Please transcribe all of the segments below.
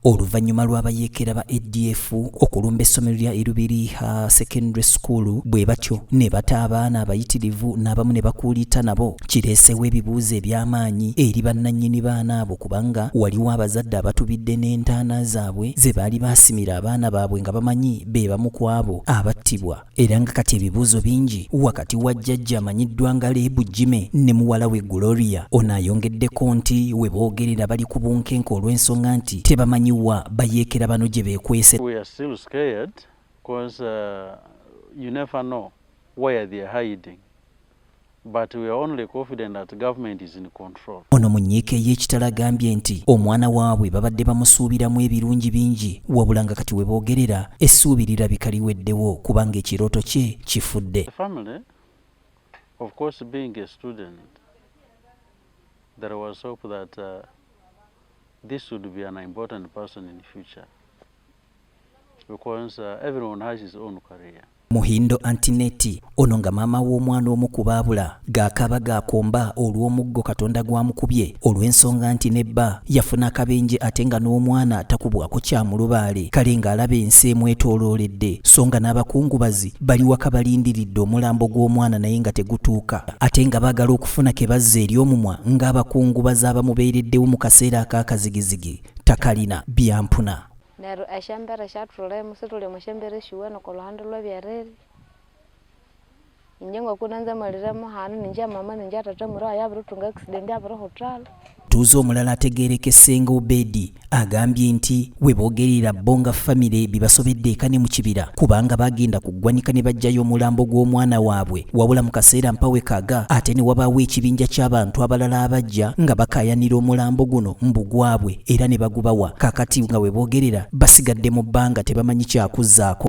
oluvannyuma lw'abayeekera ba adf okulumba essomero lya erubiriha secondary school bwe batyo ne bata abaana abayitirivu n'abamu ne bakuuliita nabo kireesewo ebibuuzo eby'amaanyi eri bannannyini baana abo kubanga waliwo abazadde abatubidde n'entaana zaabwe ze baali baasimira abaana baabwe nga bamanyi be bamu ku abo abattibwa era nga kati ebibuuzo bingi wakati wa jjajja amanyiddwa nga leebu jime ne muwala we gloria ono ayongeddeko nti we boogerera bali ku bunkenke olw'ensonga nti tebamanyi wa bayeekera bano gye beekwese But we are only confident that government is in control. Ono mu nyiika ey'ekitala agambye nti omwana waabwe babadde bamusuubiramu ebirungi bingi wabula nga kati we boogerera essuubi lirabika liweddewo kubanga ekirooto kye kifudde. Family, of course being a student, there was hope that uh, this would be an important person in future. because uh, everyone has his own career. Muhindo Antineti ono nga maama w'omwana omu ku baabula gaakaaba gaakomba olw'omuggo Katonda gwamukubye olw'ensonga nti ne bba yafuna akabenje ate nga n'omwana takubwako kya mulubaale kale ng'alaba ensi emwetoolooledde so nga n'abakungubazi bali waka balindiridde omulambo gw'omwana naye nga tegutuuka ate nga baagala okufuna ke bazza eri omumwa ng'abakungubazi abamubeereddewo mu kaseera ak'akazigizigi takalina byampuna. Neru eshembere shatulemu situli mushembere shiweno koluhande lwebyereri inje ngokuna nze maliremu hanu ninje mama ninje atata muro ayabirutunga accident abiro hotel Omutuuze omulala ategeerekese nga Obedi agambye nti we boogerera bo nga famire bibasobedde eka ne mu kibira kubanga bagenda ku ggwanika ne baggyayo omulambo gw'omwana waabwe wabula mu kaseera mpawe kaga ate ne wabaawo ekibinja ky'abantu abalala abajja nga bakaayanira omulambo guno mbu gwabwe era ne bagubawa kakati nga webogerera basigadde mu bbanga tebamanyi kyakuzzaako.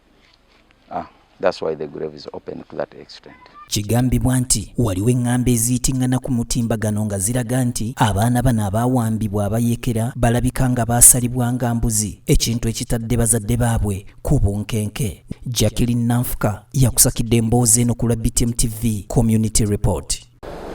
ah, that's why the grave is open to that extent Kigambibwa nti waliwo eŋŋambo eziyitingana ku mutimbagano nga ziraga nti abaana bano abaawambibwa abayekera balabika nga baasalibwa nga mbuzi ekintu ekitadde bazadde baabwe ku bunkenke Jacqueline Nanfuka yakusakidde emboozi eno ku lwa BTM TV Community Report.